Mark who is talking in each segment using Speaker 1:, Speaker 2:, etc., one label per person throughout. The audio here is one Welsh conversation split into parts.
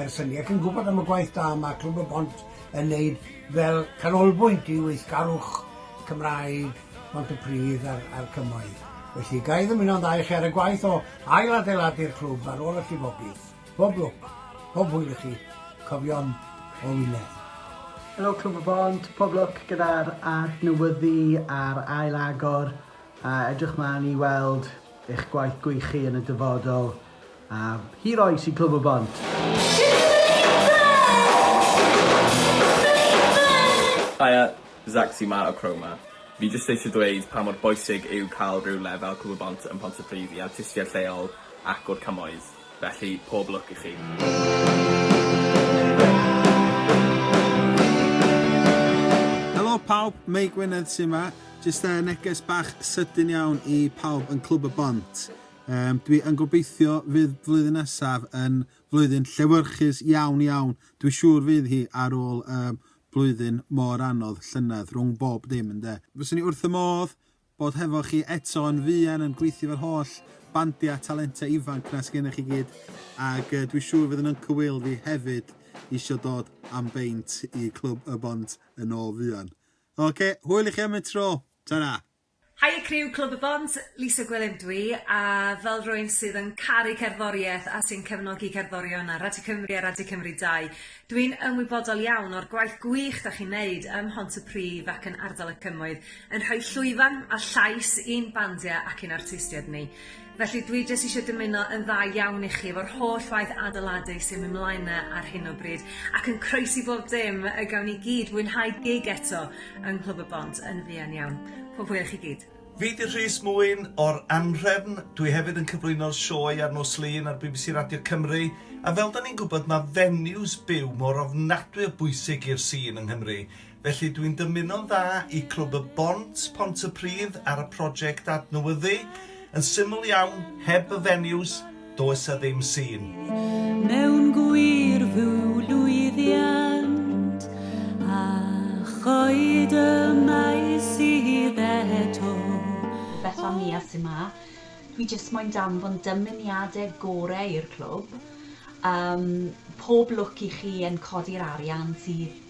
Speaker 1: Ers hynny, ac yn gwybod am y gwaith da mae Clwb y Bont yn neud fel canolbwynt i weithgarwch Cymraeg Pontypridd a'r a'r Cymoedd. Felly, ga i ddymuno'n dda i chi ar y gwaith o ail-adeiladu'r clwb ar ôl y llifogydd. Pob lwc, pob hwyl i chi, cofion o Wynedd. Helo Clwb
Speaker 2: y Bont, pob lwc gyda'r adnewyddu a'r ail-agor a edrych mlaen i weld eich gwaith gwych chi yn y dyfodol. A hi rai sy'n clyfo bant.
Speaker 3: Haia, Zacsi 'ma o Chroma. Fi jyst eisiau dweud pa mor bwysig yw cael rhyw lefel clyfo bont yn Pontypridd i artistiaid lleol ac o'r cymoedd. Felly, pob lwc i chi.
Speaker 4: Helo pawb, Mei Gwynedd sy 'ma. Jyst yy neges bach sydyn iawn i pawb yn Clwb y Bont. Yym, dwi yn gobeithio fydd flwyddyn nesaf yn flwyddyn llewyrchus iawn, iawn. Dwi siŵr fydd hi ar ôl um, blwyddyn mor anodd, llynedd, rhwng bob dim, ynde. Fyswn i wrth y modd bod hefo chi eto yn fuan yn gweithio efo'r holl bandiau talentau ifanc na sgennych chi gyd, ac uh, dwi siŵr fydd yn Uncle Will fi hefyd eisiau dod am beint i Clwb y Bont yn ôl fuan. Oce, okay, hwyl i chi am y tro. Ta-ra! Haia criw
Speaker 5: Clwb y Bont, Lisa Gwilym ydw i, a fel rywun sydd yn caru cerddoriaeth a sy'n cefnogi cerddorion ar Radio Cymru a Radio Cymru 2, dw i'n ymwybodol iawn o'r gwaith gwych da chi'n neud ym Mhontypridd ac yn ardal y Cymoedd, yn rhoi llwyfan a llais i'n bandiau ac i'n artistiaid ni. Felly dwi jyst isio dymuno yn dda iawn i chi efo'r holl waith adeiladu sy'n myn' mlaen 'na ar hyn o bryd ac yn croesi bob dim y gawn ni gyd fwynhau gig eto yng Nghlwb y Bont yn fuan iawn. Pob hwyl i chi gyd. Fi 'di Rhys
Speaker 6: Mwyn o'r Anhrefn, dwi hefyd yn cyflwyno'r sioe ar nos Lun ar bbc Radio Cymru, a fel 'da ni'n gwybod ma' venues byw mor ofnadwy o bwysig i'r scene yng Nghymru, Felly dwi'n dymuno'n dda i Clwb y Bont, Pontypridd ar y project adnewyddu. Yn syml iawn, heb y venues, does a ddim sîn. Mewn
Speaker 7: gwir fyw lwyddiant a choed y mae sydd eto. Beth
Speaker 8: am Nia sy ma? Dwi jyst moyn danfon dymuniade gore i'r clwb. Yym pob lwc i chi yn codi'r arian sydd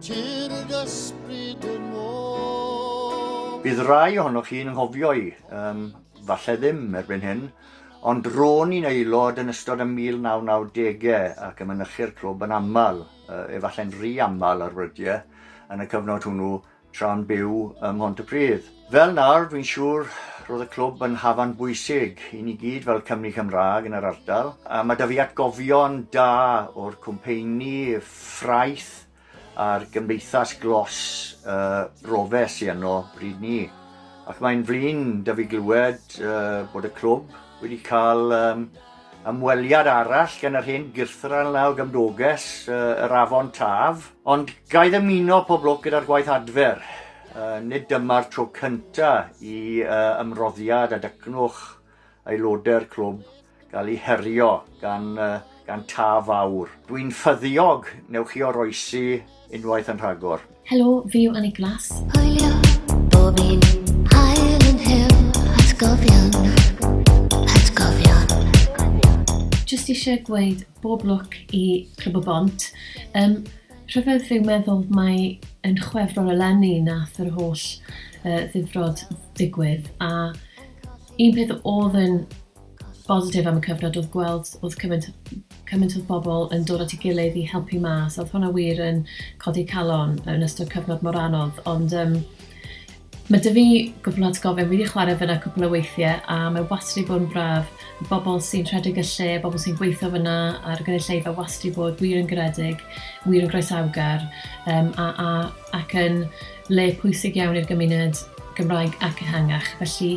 Speaker 9: Tir y gysbryd yn ôl. Bydd rai
Speaker 10: ohonoch chi'n ynghofio'i, um, falle ddim erbyn hyn, ond ro'n i'n aelod yn ystod y 1990au ac yn mynychu'r clwb yn aml, uh, efallai'n rhy aml ar wrydiau, yn y cyfnod hwnnw, tra'n byw ym Mhontypridd. Fel nawr, dwi'n siŵr roedd y clwb yn hafan bwysig i ni gyd fel Cymru Cymraeg yn yr ardal. A mae da fi atgofion da o'r cwmpeini ffraeth a'r gymdeithas glos uh, rofe sy yno bryd ni. Ac mae'n flin da fi glywed uh, bod y clwb wedi cael um, Ymweliad arall gan yr hen gyrthran law gymdoges, yr afon Taf. Ond gai ddymuno pob lwc gyda'r gwaith adfer. Nid dyma'r tro cynta i ymroddiad a dycnwch aelodau'r clwb gael ei herio gan gan Taf Fawr. Dwi'n ffyddiog, newch chi oroesi Unwaith yn rhagor. Helo, fi yw Annie
Speaker 11: Glass. Hwylio,
Speaker 12: bob un hael yn hyw, atgofion, atgofion.
Speaker 11: Just eisiau gweud bob lwc i Clwb y Bont. Um, rhyfedd fi'n meddwl mae yn chwefror eleni nath yr holl uh, ddifrod digwydd a un peth oedd yn bositif am y cyfnod oedd gweld oedd cymaint cymaint oedd bobl yn dod at ei gilydd i helpu mas oedd hwnna wir yn codi calon yn ystod cyfnod mor anodd ond um, mae dy fi gwbl at gofyn wedi chwarae fyna cwpl o weithiau a mae wastad i bod yn braf bobl sy'n rhedeg y lle, bobl sy'n gweithio fyna a'r gynulleidfa wastad i bod wir yn garedig, wir yn groesawgar um, a, a, ac yn le pwysig iawn i'r gymuned Gymraeg ac ehangach. Felly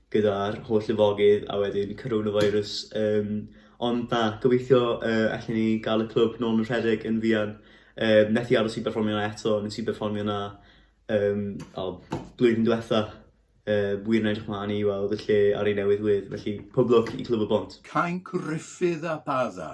Speaker 13: gyda'r holl lifogydd a wedyn coronavirus yym ond na gobeithio yy allen ni ga'l y clwb nôl yn rhedeg yn fuan. Yym methu aros i berfformio 'na eto nes i berfformio 'na yym o blwyddyn dwetha. Yy wir yn edrych mlan i weld y lle ar ei newydd wedd felly pob lwc i Clwb y Bont. Cainc Ruffydd
Speaker 14: a Bada.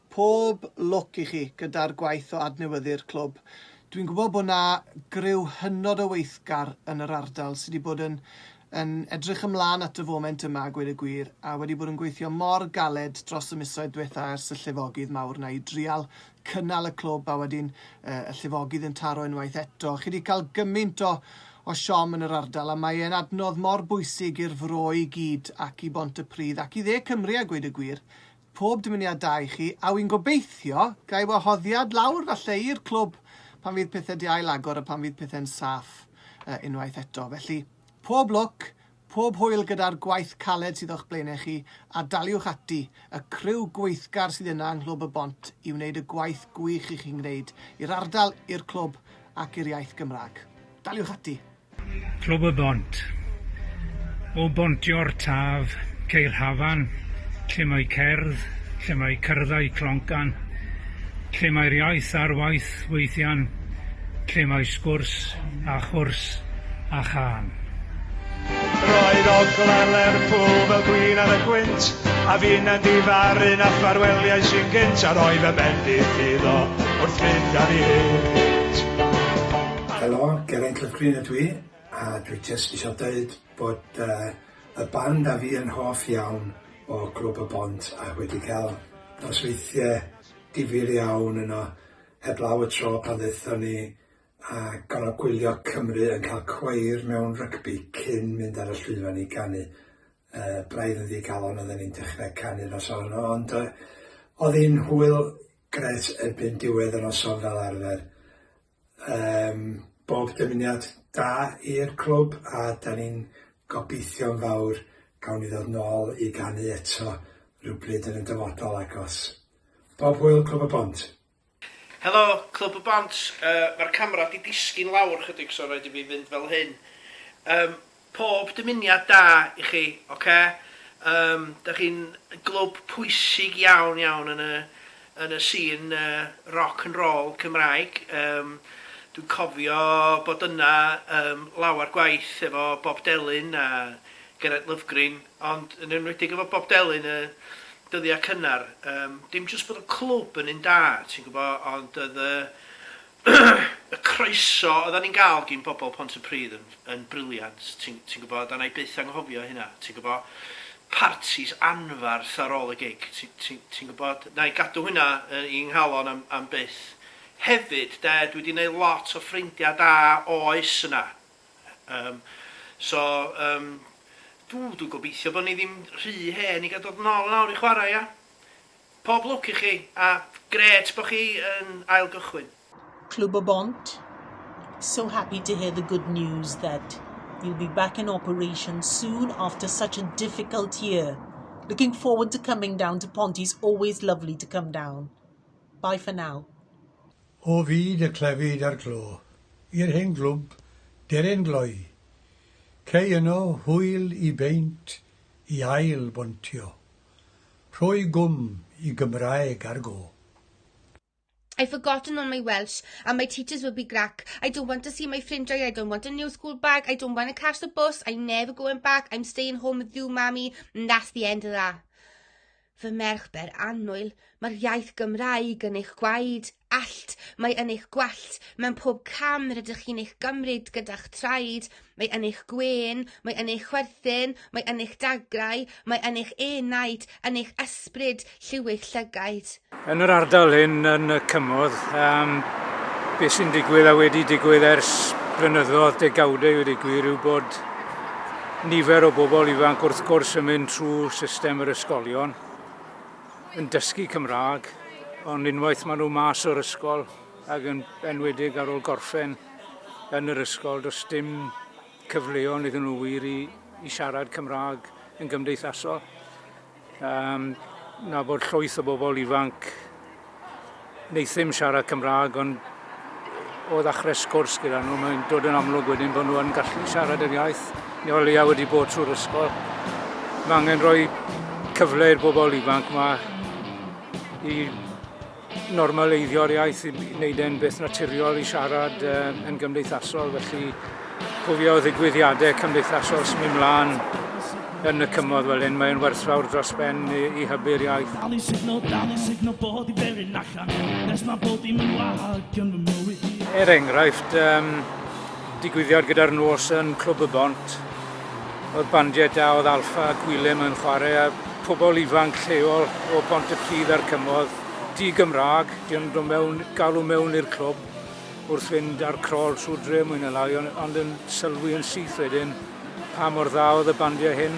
Speaker 2: Pob lwc i chi gyda'r gwaith o adnewyddu'r clwb. Dwi'n gwybod bod 'na griw hynod o weithgar yn yr ardal sy' 'di bod yn yn edrych ymlaen at y foment yma a gweud y gwir, a wedi bod yn gweithio mor galed dros y misoedd dwetha ers y llifogydd mawr 'na i drial cynnal y clwb a wedyn yy y llifogydd yn taro unwaith eto. Chi 'di cael gymint o o siom yn yr ardal a mae e'n adnodd mor bwysig i'r Fro i gyd ac i Bont-y-pridd ac i dde Cymru a gweud y gwir. pob dymuniad da i chi, a wi'n gobeithio gai wahoddiad lawr falle i'r clwb pan fydd pethe 'di ail agor a pan fydd pethe'n saff yy unwaith eto. Felly, pob lwc, pob hwyl gyda'r gwaith caled sydd o'ch blaenau chi, a daliwch ati, y criw gweithgar sydd yna yng Nghlwb y Bont i wneud y gwaith gwych i chi'n gwneud i'r ardal, i'r clwb ac i'r iaith Gymraeg. Daliwch ati! Clwb y
Speaker 15: Bont. O bontio'r taf, ceir hafan, lle mae cerdd, lle mae cyrddau cloncan, lle mae'r iaith ar waith weithian, lle mae sgwrs a chwrs a chân.
Speaker 16: Roedd ogla Lerpwl fel gwin ar y gwynt, a finna'n difaru na ffarweliais i'n gynt, a roedd fy mhen-blith iddo wrth fynd ar ei hynt.
Speaker 1: Helo, Geraint Lovegreen ydw i, a dwi jyst isio deud bod y band a fi yn hoff iawn o Glwb y Bont ac wedi cael nosweithie difyr iawn yno heblaw y tro pan ddaethon ni a gorfod gwylio Cymru yn cael cweir mewn rygbi cyn mynd ar y llwyfan i ganu, braidd yn ddigalon oedden ni'n dechrau canu noson yno ond oedd hi'n hwyl grêt erbyn diwedd y noson fel arfer. Yym bob dymuniad da i'r clwb a 'dan ni'n gobeithio'n fawr gawn ni ddod nôl i ganu eto rywbryd yn y dyfodol agos. Bob hwyl Clwb y Bont! Helo
Speaker 17: Clwb y Bont, yy ma'r camera 'di disgyn lawr chydig so raid i fi fynd fel hyn. Yym. Pob dymuniad da i chi, oce? Yym, dach chi'n glwb pwysig iawn, iawn yn y yn y sîn yy roc and rôl Cymraeg. Yym, dwi'n cofio bod yna yym lawer gwaith efo Bob Delyn a Geraint Lovgreen, ond yn enwedig efo Bob Delyn y dyddia' cynnar. Yym, dim jyst bod y clwb yn un da, ti'n gwbo, ond o'dd y y croeso odda ni'n ga'l gin bobol Pontypridd yn yn brilliant ti'n ti'n gwbo a 'nai byth anghofio hynna ti'n gwbo partis anfarth ar ôl y gig ti ti ti'n gwbod 'nai gadw hwnna yy i 'nghalon am am byth. Hefyd 'de dwi 'di neud lot o ffrindia da oes yna yym so yym dw dwi'n gobeithio bo ni ddim rhy hen i ga'l dod nôl yn awr i chwara ia? Pob lwc i chi a grêt bo chi yn ail gychwyn. Clwb y
Speaker 18: Bont, So happy to hear the good news that you'll be back in operation soon after such a difficult year. Looking forward to coming down to Ponty's always lovely to come down. Bye for now. O
Speaker 19: fyd y clefyd a'r glo, i'r hen glwb deryn gloi, Cei yno hwyl i beint i ail bontio. Rhoi gwm i Gymraeg ar go. I've
Speaker 20: forgotten all my Welsh and my teachers will be grac I don't want to see my ffrindiau I don't want a new school bag I don't wanna catch the bus I'm never going back I'm staying home with you mami and that's the end of that. Fy merch ber annwyl, mae'r iaith Gymraeg yn eich gwaed. allt, mae yn eich gwallt, mewn pob cam rydych chi'n eich gymryd gyda'ch traed, mae yn eich gwên, mae yn eich chwerthin, mae yn eich dagrau, mae yn eich enaid, yn eich ysbryd, lliw'ch llygaid. Yn yr ardal
Speaker 15: hyn yn y cymoedd, um, beth sy'n digwydd a wedi digwydd ers blynyddoedd, degawdau wedi gwir, yw bod nifer o bobl ifanc wrth gwrs yn mynd trwy system yr ysgolion, yn dysgu Cymraeg, ond unwaith maen nhw mas o'r ysgol ac yn enwedig ar ôl gorffen yn yr ysgol, does dim cyfleon iddyn nhw wir i, i siarad Cymraeg yn gymdeithasol. Um, na bod llwyth o bobl ifanc Wnaethum siarad Cymraeg ond o ddechrau sgwrs gyda nhw mae'n dod yn amlwg wedyn bod nhw yn gallu siarad yr iaith. Ni o leia wedi bod trwy'r ysgol. Mae angen rhoi cyfle i'r bobl ifanc yma i normaleiddio'r iaith, i wneud e'n beth naturiol i siarad uh, yn gymdeithasol, felly Cofio ddigwyddiadau cymdeithasol sy'n mynd mlaen yn y cymoedd fel hyn, mae'n werthfawr dros ben i, i hybu'r iaith. Dal i signo, dal i signo bod i berin allan, nes mae bod i'n mynd wag yn fy mywyd i. Er enghraifft, um, digwyddiad gyda'r nos yn Clwb y Bont, oedd bandiau da oedd Alfa a Gwilym yn chwarae a pobl ifanc lleol o Bont y Pridd a'r Cymodd, di-Gymraeg, di o'n dod mewn, galw mewn i'r clwb, wrth fynd ar crol trwy'r dre mwy na lai, ond, ond yn sylwi yn syth wedyn pa mor dda oedd y bandiau hyn,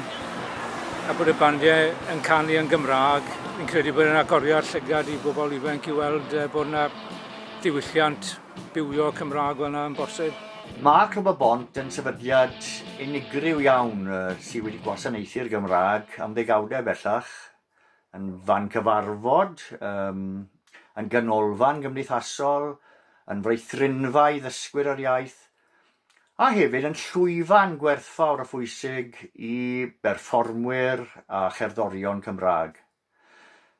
Speaker 15: a bod y bandiau yn canu yn Gymraeg. Fi'n credu bod yn agoriad llygad i bobl ifanc i weld uh, bod yna diwylliant bywio Cymraeg fel yna yn bosib. Mae Clwb y
Speaker 10: Bont yn sefydliad unigryw iawn uh, sydd wedi gwasanaethu'r Gymraeg am ddegawdau bellach. yn fan cyfarfod, um, yn ganolfan gymdeithasol, yn fraethrynfa i ddysgwyr yr iaith, a hefyd yn llwyfan gwerthfawr a phwysig i berfformwyr a cherddorion Cymraeg.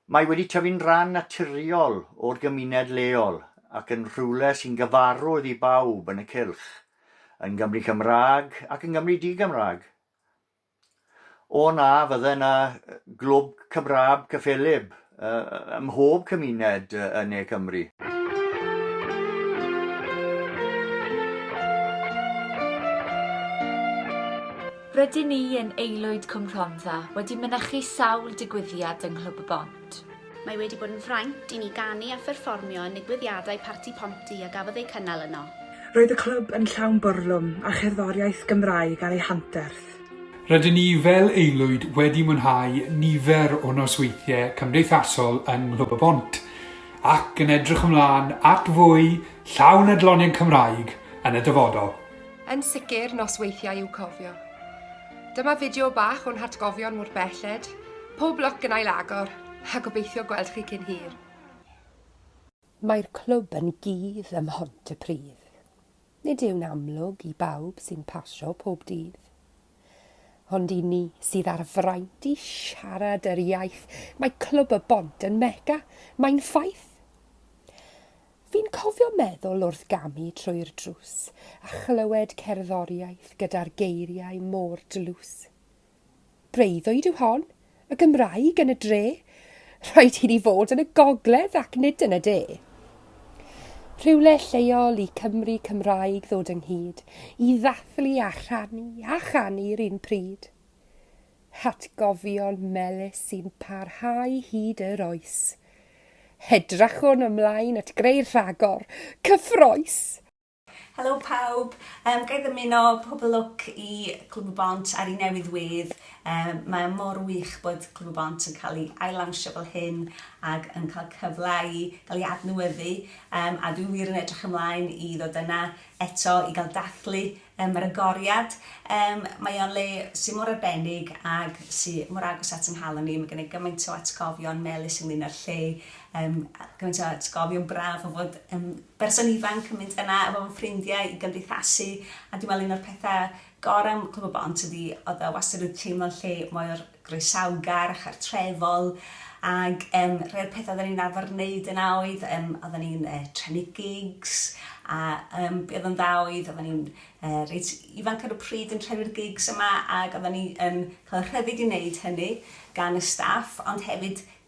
Speaker 10: Mae wedi tyfu'n rhan naturiol o'r gymuned leol ac yn rhywle sy'n gyfarwydd i bawb yn y cylch, yn Gymru Cymraeg ac yn Gymru Di-Gymraeg. O na, fydde 'na glwb Cymraeg cyffelyb ym mhob cymuned yn ne Cymru.
Speaker 21: Rydyn ni yn Aelwyd Cwm Rhondda wedi mynychu sawl digwyddiad yng Nghlwb y Bont. Mae wedi bod yn
Speaker 22: fraint i ni ganu a pherfformio yn nigwyddiadau Parti Ponty a gafodd eu cynnal yno. Roedd y clwb
Speaker 23: yn llawn bwrlwm a cherddoriaeth Gymraeg ar ei hanterth. Rydyn ni
Speaker 24: fel aelwyd wedi mwynhau nifer o nosweithiau cymdeithasol yng Nghlwb y Bont ac yn edrych ymlaen at fwy llawn adloniant Cymraeg yn y dyfodol. Yn sicr,
Speaker 25: nosweithiau i'w cofio. Dyma fideo bach o'n hatgofion mor belled. Pob lwc yn ail-agor, a gobeithio gweld chi cyn hir.
Speaker 26: Mae'r clwb yn gudd ym Mhontypridd. Nid yw'n amlwg i bawb sy'n pasio pob dydd. Ond i ni sydd â'r fraint i siarad yr iaith, mae Clwb y Bont yn Mecca, mae'n ffaith! Fi'n cofio meddwl wrth gamu trwy'r drws a chlywed cerddoriaeth gyda'r geiriau mor dlws. Breuddwyd yw hon, y Gymraeg yn y dre! Rhaid i ni fod yn y gogledd ac nid yn y de! Rhywle lleol i Cymry Cymraeg ddod ynghyd, i ddathlu a rhannu a chanu'r un pryd. hatgofion melys sy'n parhau hyd yr oes. Hedrachwn ymlaen at greu rhagor cyffroes!
Speaker 3: Helo pawb, um, ga i ddymuno pob lwc i Clwb y Bont ar ei newydd wedd. Um, mae mor wych bod Clwb y Bont yn cael ei ailawnsio fel hyn ac yn cael cyfle i gael ei adnewyddu um, a dwi wir yn edrych ymlaen i ddod yna eto i gael dathlu Ym Mr'ygoriad. Yym, mae o'n le sy mor arbennig ag sy mor agos at 'y nghalon i. Mae gen i gymaint o atgofion melys ynglŷn â'r lle, yym, a gymaint o atgofion braf o fod yn berson ifanc yn mynd yna efo fy ffrindiau i gymdeithasu, a dwi me'wl un o'r petha' gora' am Cwm y Bont ydi o'dd o wastad yn teimlo'n lle mor groesawgar a chartrefol ac yym rhai o'r petha' oddan ni'n arfer neud yna oedd yym oddan ni'n yy trefnu gigs a yym be' odd yn dda oedd oddan ni'n yy reit ifanc ar y pryd yn trefnu'r gigs yma ag oddan ni yn ca'l y rhyddid i neud hynny gan y staff ond hefyd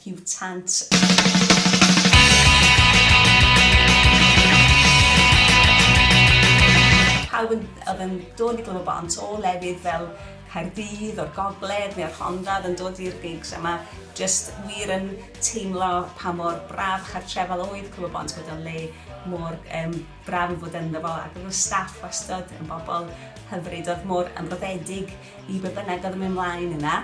Speaker 3: Piwtant. Pawb yn oedd yn dod i Glwb y Bont o lefydd fel Caerdydd, o'r Gogledd neu o'r Rhondda oedd yn dod i'r gigs a mae jyst wir yn teimlo pa mor braf chartrefol oedd Clwb y Bont bod o'n le mor um, braf i fod ynddo fo ac oedd y staff wastad yn bobl hyfryd oedd mor ymroddedig i be bynnag oedd yn mynd mlaen yna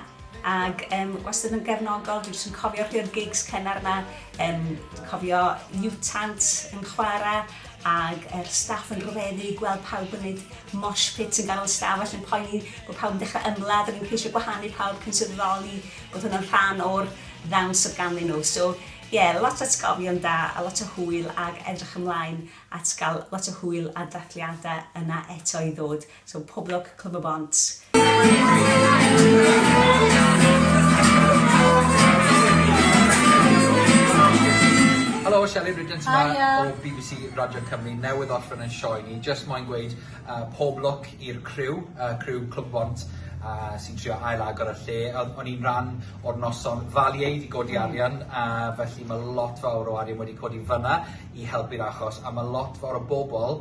Speaker 3: ac yym wastad yn gefnogol, dwi jyst yn cofio rhai o'r gigs cynnar yna, yym dwi'n cofio Mutant yn chwara ag yr staff yn rhyfeddu gweld pawb yn neud mosh pit yn ganol stafell yn poeni bod pawb yn dechrau ymladd ac yn ceisio gwahanu pawb cyn sylweddoli bod hwnna'n rhan o'r ddawns oedd ganddyn nhw. So ie, yeah, lot o atgofion da a lot o hwyl ag edrych ymlaen at gael lot o hwyl a dathliadau yna eto i ddod. So pob lwc Clwb y Bont.
Speaker 4: Helo, Shelley Bridgens yma Hiya. o bbc Radio Cymru newydd orffen yn sioe ni. Jyst moyn gweud uh, pob lwc i'r criw, uh, criw Clwb Bont uh, sy'n trio ail agor y lle. Oedd- O'n i'n rhan o'r noson ddaliaid i godi arian, a felly mae lot fawr o arian wedi codi fyna i helpu'r achos, a mae lot fawr o bobl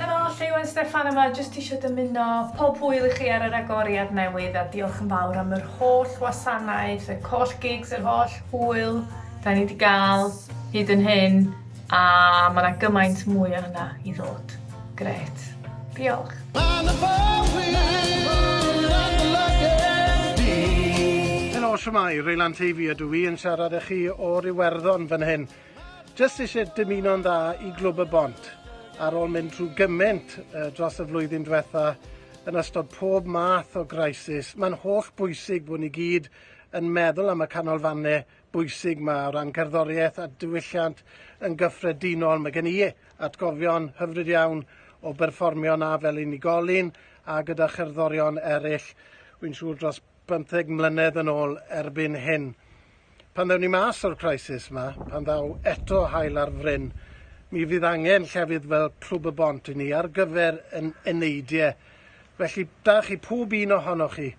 Speaker 5: Helo, Lleuwen Steffan yma, jyst isio dymuno pob hwyl i chi ar yr agoriad newydd a diolch yn fawr am yr holl wasanaeth, y coll gigs, yr holl hwyl 'da ni 'di ga'l hyd yn hyn a ma' 'na gymaint mwy o hynna i ddod. Grêt. Diolch. Helo,
Speaker 6: shwmae? Reylan Teifi ydw i yn siarad â chi o'r Iwerddon fan hyn. Jyst eisiau dymuno'n dda i Glwb y Bont ar ôl mynd trwy gymaint dros y flwyddyn diwetha' yn ystod pob math o grisis. Mae'n holl bwysig bod ni gyd yn meddwl am y canolfannau bwysig 'ma o ran cerddoriaeth a diwylliant yn gyffredinol. Mae gen i atgofion hyfryd iawn o berfformio 'na fel unigolyn a gyda cherddorion eraill, wi'n siŵr dros bymtheg mlynedd yn ôl erbyn hyn. Pan ddewn ni mas o'r crisis 'ma, pan ddaw eto haul ar fryn, mi fydd angen llefydd fel Clwb y Bont i ni ar gyfer yn eneidiau. Felly, da chi pob un ohonoch chi,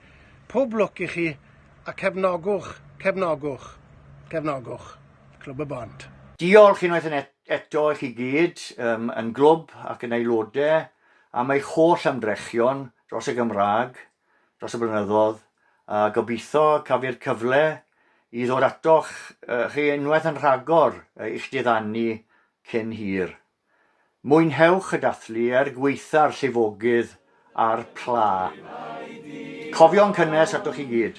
Speaker 6: pob lwc i chi, a cefnogwch, cefnogwch, cefnogwch Clwb y Bont. Diolch unwaith yn
Speaker 10: eto i chi gyd, yn Glwb ac yn aelodau, am eich holl ymdrechion dros y Gymraeg, dros y blynyddodd, a gobeithio cafi'r cyfle i ddod atoch chi unwaith yn rhagor i'ch diddanu cyn hir. Mwynhewch y dathlu er gwaetha'r llifogydd a'r pla. Cofio'n cynnes atoch chi gyd.